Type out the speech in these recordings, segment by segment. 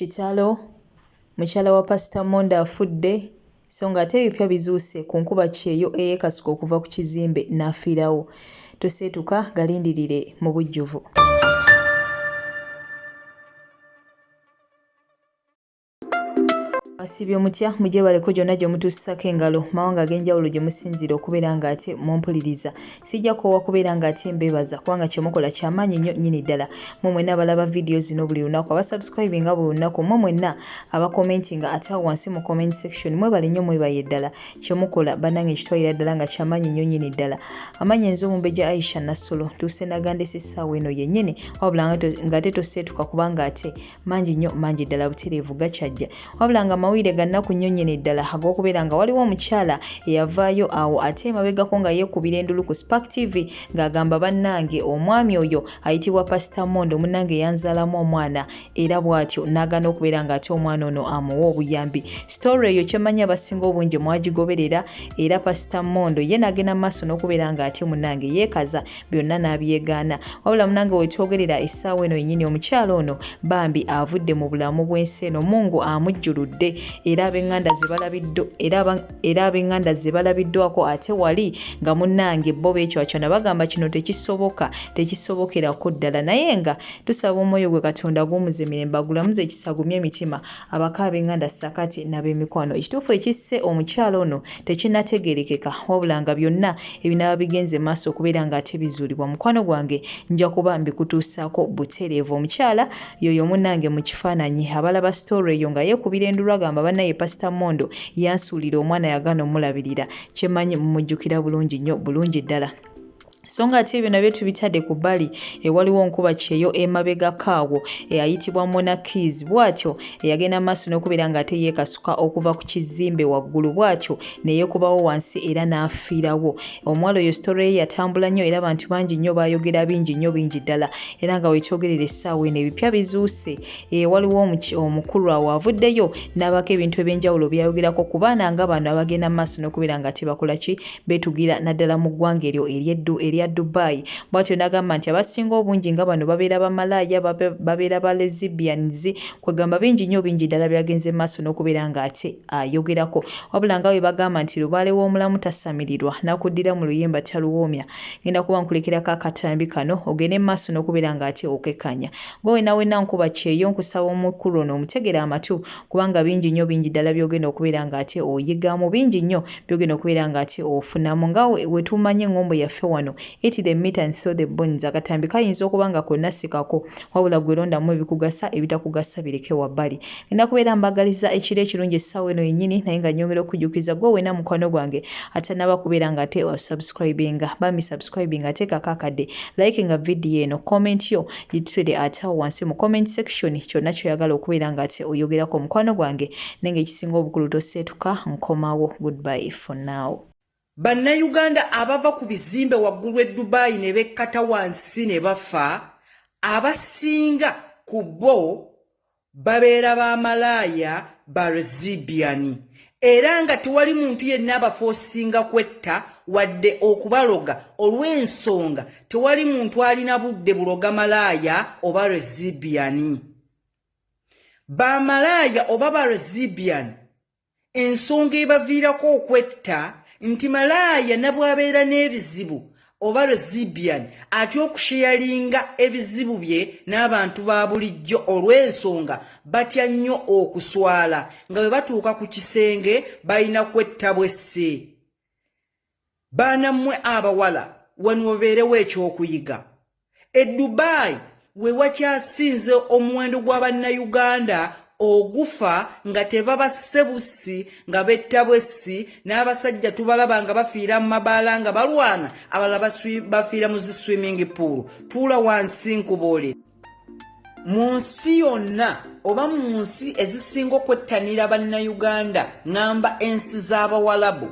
Kitalo! Mukyala wa Pasita Mondo afudde so ng'ate ebipya bizuuse ku nkuba kyeyo eyeekasuka okuva ku kizimbe n'afiirawo. Toseetuka galindirire mu bujjuvu. Asibye omutya mujebaleko gyonna gye mutuusisako engalo mawanga ag'enjawulo gye musinziira okubeera ng'ate mumpuliriza sijja koowa kubeera ng'ate mbeebaza kubanga kye mukola kya maanyi nnyo nnyini ddala mmwe mwenna abalaba vidiyo zino buli lunaku abasubscribe nga buli lunaku mmwe mwenna abakomenti nga ate awo wansi mu comment section mwebale nnyo mwebaye ddala kye mukola bannange kitwalira ddala nga kya maanyi nnyo nnyini ddala amaanyi enze omumbejja aisha nassolo ntuuse nagandesa essaawa eno yennyini wabula ng'ate toseetuka kubanga ate mangi nnyo mangi ddala butereevu gakyajja wabula nga mawulire gannaku nnyo nnyini ddala ag'okubeera nga waliwo omukyala eyavaayo awo ate emabegako nga yeekubira endulu ku spark tv ng'agamba bannange omwami oyo ayitibwa pasita mondo munnange eyanzaalamu omwana era bw'atyo n'agaana okubeera ng'ate omwana ono amuwa obuyambi sitore eyo kyemmanyi abasinga obungi mwagigoberera era pasita mondo ye n'agenda mu maaso n'okubeera ng'ate munnange yeekaza byonna n'abyegaana wabula munange wetwogerera essaawa eno yennyini omukyala ono bambi avudde mu bulamu bw'ensi eno mungu amujjuludde era ab'eŋŋanda ze balabiddo era ab'eŋŋanda ze balabiddwako ate wali nga munnange bo beekywakyona bagamba kino tekisoboka tekisobokerako ddala naye nga tusaba omwoyo gwe katonda guwumuze mirembe agulamuze ekisagumye emitima Abaka ab'enganda ssakati n'abemikwano ekituufu ekisse omukyala ono tekinategerekeka wabula nga byonna ebinaba bigenze maaso okubeera nga ate bizuulibwa mukwano gwange nja kuba mbikutuusaako butereevu omukyala yoyo munange mu kifaananyi abalaba story eyo nga yeekubira endulu agamba banaye pasita mondo yansuulira omwana yagana omulabirira kyemanyi mumujjukira bulungi nnyo bulungi ddala so nga ate ebyo nabyo tubitadde ku bbali ewaliwo nkuba kyeyo emabegako awo eyayitibwa mona keys bw'atyo eyagenda mu maaso n'okubeera ng'ate yeekasuka okuva ku kizimbe waggulu bw'atyo ne yeekubawo wansi era n'afiirawo omuwala oyo sitore ye yatambula nnyo era abantu bangi nnyo baayogera bingi nnyo bingi ddala era nga wekyogerera essaawa eno ebipya bizuuse eh, waliwo omukulu awo avuddeyo n'abaako ebintu eby'enjawulo byayogerako ku baana nga bano abagenda mu maaso n'okubeera ng'ate bakola ki beetugira naddala mu ggwanga eryo ery'eddu erya Dubai. Bwatyo n'agamba nti abasinga obungi nga bano babeera bamalaaya, babeera ba Lesbians kwegamba bingi nnyo bingi ddala byagenze mu maaso n'okubeera nga ate ayogerako. Wabula nga bwe bagamba nti lubaale w'omulamu tasamirirwa, n'akuddira mu luyimba taluwoomya, ngenda kuba nkulekerako akatambi kano ogende mu maaso n'okubeera nga ate okekanya. Ggwe wenna wenna nkuba kyeyo nkusaba omukulu ono omutegere amatu, kubanga bingi nnyo bingi ddala by'ogenda okubeera ng'ate oyigamu, bingi nnyo by'ogenda okubeera ng'ate ofunamu nga bwe tumanyi eŋŋombo yaffe wano eti the meat and so the bones, akatambi kayinza okuba nga konna si kako wabula ggwe londamu ebikugasa ebitakugasa bireke wabbali. Ngenda kubeera mbaagalizza ekiro ekirungi essaawa eno yennyini naye nga nnyongera okukujjukiza ggwe wenna mukwano gwange atannaba kubeera ng'ate osubscribinga bambi subscribinga teekako akadde, likinga vidiyo eno, comment yo, Literally ate awo wansi mu comment section kyonna kyoyagala okubeera nga ate oyogerako mukwano gwange naye nga ekisinga obukulu toseetuka nkomawo goodbye for now. Bannayuganda abava ku bizimbe waggulu e Dubai ne bekkata wansi ne bafa abasinga ku bo babeera ba malaaya ba rezibiani era nga tewali muntu yenna abafoosinga kwetta wadde okubaloga olw'ensonga tewali muntu alina budde buloga malaaya oba rezibiani bamalaaya oba ba rezibiani ensonga ebaviirako okwetta nti malaaya nabwabeera n'ebizibu oba resibian atya okusheyalinga ebizibu bye n'abantu ba bulijjo olw'ensonga batya nnyo okuswala nga bwe batuuka ku kisenge balina kwetta bwesse baana mmwe abawala wano wabeerewo ekyokuyiga e dubai we wakyasinze omuwendo gwa bannayuganda ogufa nga tebabasse bussi nga betta bwessi n'abasajja tubalaba nga bafiira mu mabaala nga balwana abala bafiira mu zi swimming pool tuula wansi nkubuuli mu nsi yonna oba mu nsi ezisinga okwettanira bannayuganda ng'amba ensi z'abawalabu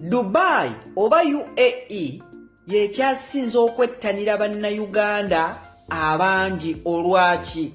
Dubai oba UAE yekyasinze okwettanira bannayuganda abangi olwaki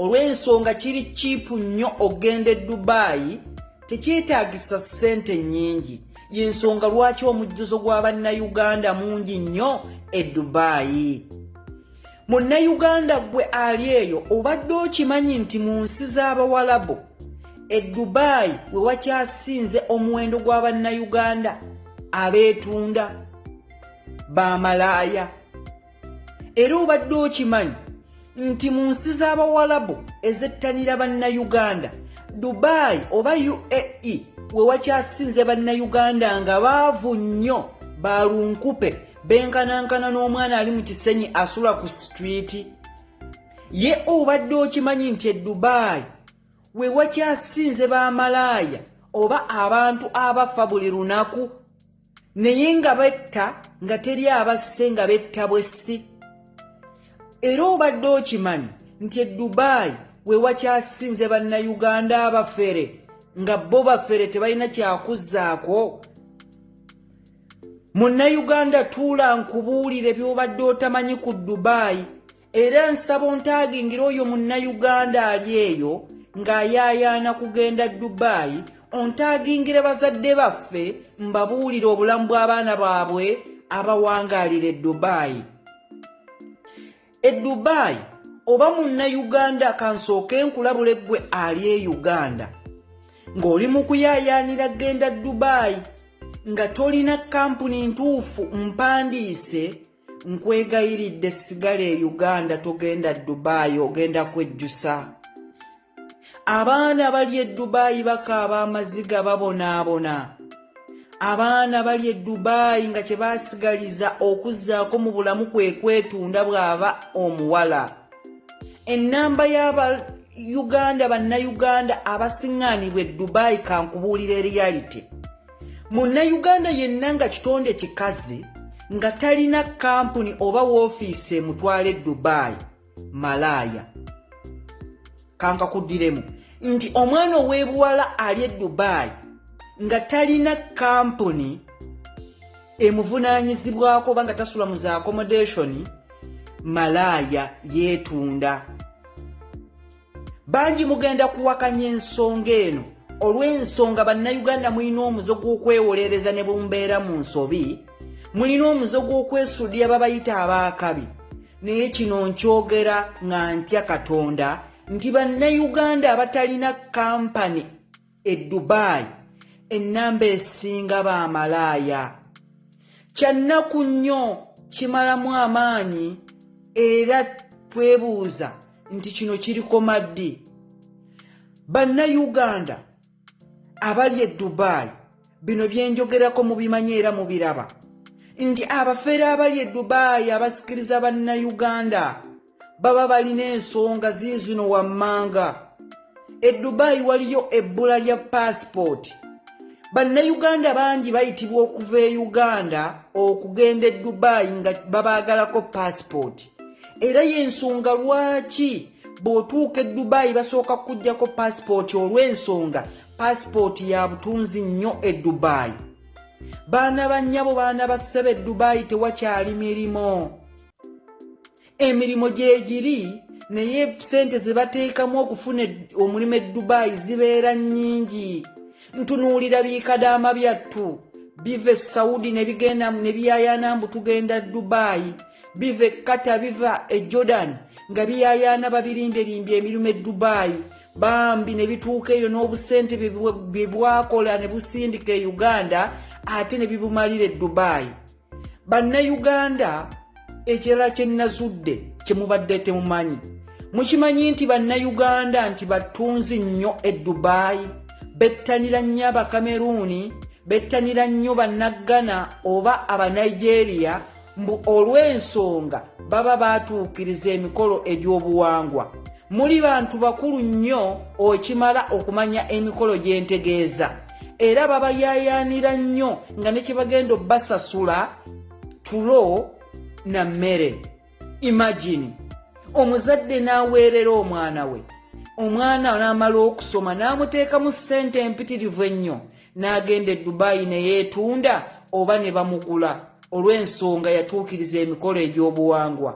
olw'ensonga kiri kiipu nnyo okugenda e Dubai tekyetaagisa ssente nnyingi y'ensonga lwaki omujjuzo gwa bannayuganda mungi nnyo e Dubai. munnayuganda gwe ali eyo obadde okimanyi nti mu nsi z'abawalabu e dubaayi we wakyasinze omuwendo gwa bannayuganda abeetunda bamalaaya era obadde okimanyi nti mu nsi z'abawalabu ezettanira bannayuganda dubaayi oba uae we wakyasinze bannayuganda nga baavu nnyo balunkupe benkanankana n'omwana ali mu kisenyi asula ku sitwiti ye obadde okimanyi nti edubaayi we wakyasinze bamalaaya oba abantu abafa buli lunaku naye nga betta nga teri abasse nga betta bwessi era obadde okimanyi nti edubaayi we wakyasinze bannayuganda abafere nga bo bafere tebalina kyakuzzaako munnayuganda tuula nkubuulire by'obadde otamanyi ku dubaayi era nsaba ontaagingira oyo munnayuganda ali eyo ng'ayaayaana kugenda dubaayi ontaagingire bazadde baffe mbabuulire obulamu bw'abaana baabwe abawangaalira e dubaayi e dubai oba munna uganda kansooke nkulabule ggwe ali e uganda ng'oli mu kuyaayaanira genda dubai nga tolina kampuni ntuufu mpandiise nkwegayiridde sigala e uganda togenda dubai ogenda kwejjusa abaana bali e dubaayi bakaaba amaziga babonaabona abaana bali e dubaayi nga kye basigaliza okuzzaako mu bulamu kwe kwetunda bw'aba omuwala ennamba y'aba uganda bannayuganda abasiŋŋaanibwa e dubaayi kankubuulira eriyalite munnayuganda yenna nga kitonde kikazi nga talina kampuni oba woofiisi emutwala e dubaayi malaaya kankakuddiremu nti omwana ow'ebuwala ali e dubaayi nga talina kampuni emuvunaanyizibwako oba nga tasula mu za accommodationi malaaya yeetunda bangi mugenda kuwakanya ensonga eno olw'ensonga bannayuganda mulina omuze gw'okwewolereza ne bumbeera mu nsobi mulina omuze gw'okwesuudira babayita abaakabi naye kino nkyogera nga ntya katonda nti bannayuganda abatalina kampani e dubai ennamba esinga baamalaaya kyannaku nnyo kimalamu amaanyi era twebuuza nti kino kirikoma ddi bannayuganda abali e dubai bino byenjogerako mubimanyi era mubiraba nti abafere abali e dubai abasikiriza bannayuganda baba balina ensonga ziizino wammanga e dubayi waliyo ebbula lya paasipooti bannayuganda bangi bayitibwa okuva e uganda okugenda e dubayi nga babaagalako paasipooti era y'ensonga lwaki bw'otuuka e dubayi basooka kukuggyako paasipooti olw'ensonga paasipooti ya butunzi nnyo e dubayi baana bannyabo baana bassebe e dubayi tewakyali mirimu emirimu gyegiri naye sente zebateekamu okufuna omulimu eddubai zibeera nnyingi ntunuulira bikadaama byattu biva e saudi nebigenda nebiyayana mbu tugenda dubai biva e kata biva e jordan nga biyayana babirinderimbya emirimu e dubai bambi ne bituuka eyo n'obusente bye bwakola ne busindika e uganda ate ne bibumalira e dubai bannayuganda ekirala kye nnazudde kye mubadde temumanyi mukimanyi nti bannayuganda nti battunzi nnyo e dubaayi bettanira nnyo abakameruuni bettanira nnyo bannaggana oba abanigeria mbu olw'ensonga baba baatuukiriza emikolo egy'obuwangwa muli bantu bakulu nnyo okimala okumanya emikolo gy'entegeeza era babayaayaanira nnyo nga ne kye bagenda obbasasula tulo na mmere imagine omuzadde n'aweerera omwana we omwana n'amala okusoma n'amuteekamu ssente empitirivu ennyo n'agenda e dubaayi ne yeetunda oba ne bamugula olw'ensonga yatuukiriza emikolo egy'obuwangwa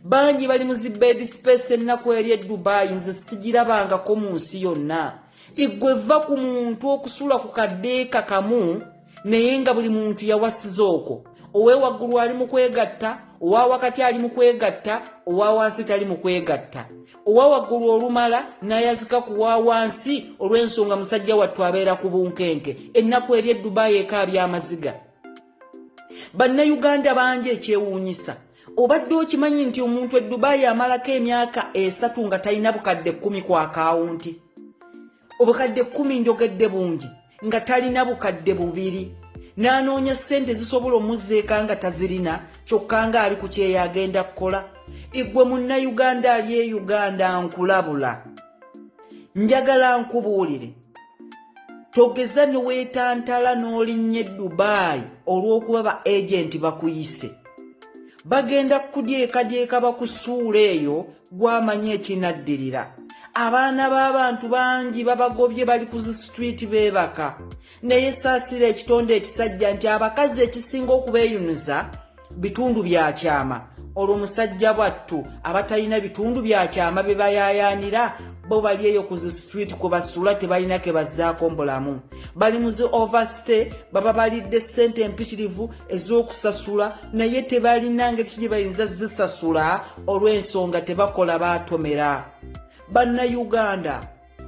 bangi bali mu zibedi space ennaku eri e dubaayi nze sigirabangako mu nsi yonna igwe va ku muntu okusula ku kadeeka kamu naye nga buli muntu yawasiza okwo owewaggulu ali mu kwegatta owa wakati ali mu kwegatta owa wansi tali mu kwegatta owa waggulu olumala nayazika ku wa wansi olw'ensonga musajja wattu abeera ku bunkenke ennaku eri eddubayi ekaabya amaziga bannayuganda bangi ekyewuunyisa obadde okimanyi nti omuntu edubaayi amalako emyaka esatu nga talina bukadde kkumi ku akawunti obukadde kkumi njogedde bungi nga talina bukadde bubiri n'anoonya ssente zisobola omuzzeeka nga tazirina kyokka nga ali ku kyeyo agenda kukola igwe munnayuganda ali e uganda nkulabula njagala nkubuulire togeza ne weetantala n'olinnya edubaayi olw'okuba ba agenti bakuyise bagenda kukudyekadyeka bakusuula eyo gwamanya ekinaddirira abaana b'abantu bangi babagobye bali ku zisitwiti beebaka naye saasira ekitonde ekisajja nti abakazi ekisinga okubeeyunuza bitundu bya kyama olwo musajja bwattu abatalina bitundu bya kyama bye bayayaanira bo bali eyo ku zi street kwe basula tebalina ke bazzaako mbulamu bali mu zi overstay baba balidde ssente empitirivu ez'okusasula naye tebalina ngeri kigye bayinza zisasula olw'ensonga tebakola baatomera bannayuganda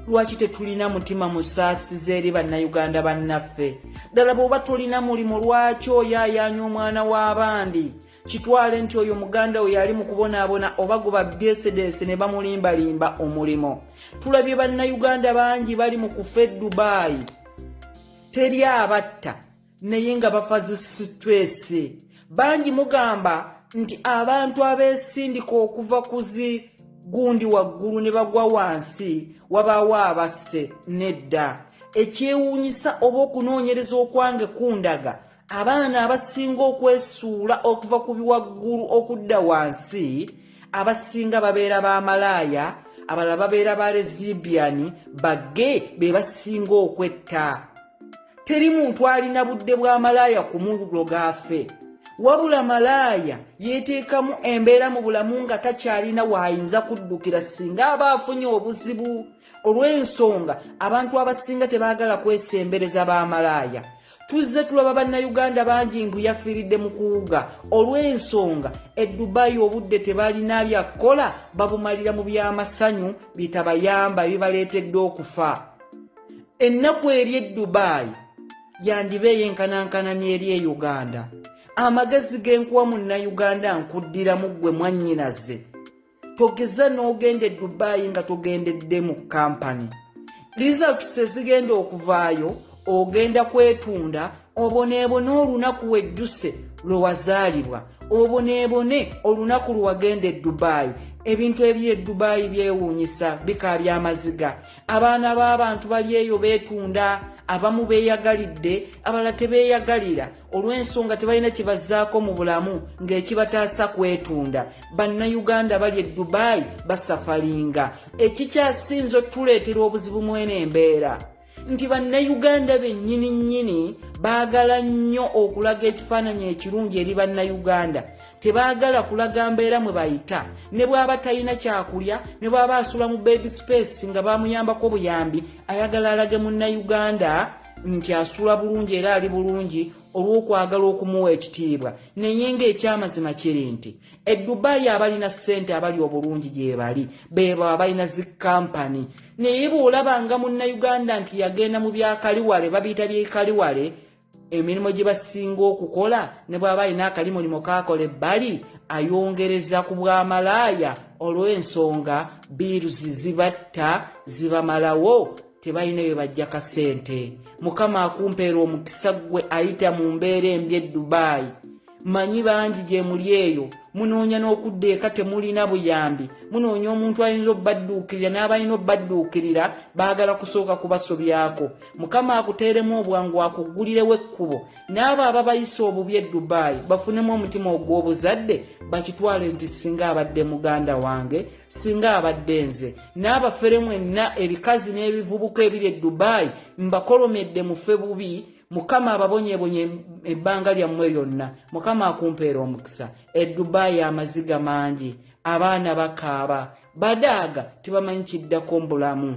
lwaki tetulina mutima musaasiza eri bannayuganda bannaffe ddala bw'oba tolina mulimu lwaki oyo ayaanya omwana w'abandi kitwale nti oyo muganda oyo ali mu kubonaabona oba guba byesedeese ne bamulimbalimba omulimu tulabye bannayuganda bangi bali mu kufa e dubaayi teri abatta naye nga bafazi situesi bangi mugamba nti abantu abesindika okuva kuzi gundi waggulu ne bagwa wansi wabaawo abasse nedda ekyewuunyisa oba okunoonyereza okwange kundaga abaana abasinga okwesuula okuva ku biwaggulu okudda wansi abasinga babeera ba malaaya abalala babeera ba rezibiani bagge be basinga okwetta teri muntu alina budde bwa malaaya kumuloga afe wabula malaaya yeteekamu embeera mu bulamu nga takyalina waayinza kuddukira singa aba afunye obuzibu olw'ensonga abantu abasinga tebaagala kwesembereza ba malaaya tuzze tulaba bannayuganda bangi mbu yafiiridde mu kuwuga olw'ensonga e dubayi obudde tebalina byakkola babumalira mu by'amasanyu bitabayamba bibaleetedde okufa ennaku eri e dubaayi yandiba eyenkanankana n'eri e uganda amagezi g'enkuwa munnayuganda nkuddiramu ggwe mwannyinaze togeza n'ogenda e dubaayi nga togendedde mu kampani results ezigenda okuvaayo ogenda kwetunda oboneebone olunaku wejjuse lwe wazaalibwa oboneebone olunaku lwe wagenda e dubaayi ebintu ebyo edubaayi byewuunyisa bikaabya amaziga abaana b'abantu bali eyo beetunda abamu beeyagalidde abala tebeeyagalira olw'ensonga tebalina kibazzaako mu bulamu ng'ekibataasa kwetunda bannayuganda bali e dubaayi basafalinga ekikyasinze otuleetera obuzibu mwene embeera nti bannayuganda bennyini nnyini baagala nnyo okulaga ekifaananyi ekirungi eri bannayuganda tebaagala kulaga mbeera mwe bayita ne bw'aba talina kyakulya ne bw'aba asula mu bed space nga bamuyambako buyambi ayagala alage munnayuganda nti asula bulungi era ali bulungi olw'okwagala okumuwa ekitiibwa naye ng'ekyamazima kiri nti edubaayi abalina ssente abali obulungi gyebali bebo abalina zi kampani naye bw'olaba nga munnayuganda nti yagenda mu byakaliwale babiyita byekaliwale emirimu gye basinga okukola ne bw'aba alina akalimulimo kaakola ebbali ayongereza ku bwamalaaya olw'ensonga biiruzi zibatta zibamalawo tebalina bye bajja kasente mukama akumpeera omukisa ggwe ayita mu mbeera embi e dubaayi manyi bangi gyemuli eyo munoonya n'okudda eka temulina buyambi munoonya omuntu ayinza okubadduukirira n'abalina okubadduukirira baagala kusooka kubasobyako mukama akuteeremu obwangu akuggulirewo ekkubo n'abo ababayisa obubi e dubaayi bafunemu omutima ogw'obuzadde bakitwale nti singa abadde muganda wange singa abadde nze n'abafere mwenna ebikazi n'ebivubuka ebiri e dubaayi mbakolomedde mufe bubi mukama ababonyebonye ebbanga lyammwe lyonna mukama akumpeera omukisa edubaayi amaziga mangi abaana bakaaba badaaga tebamanyi kiddako mbulamu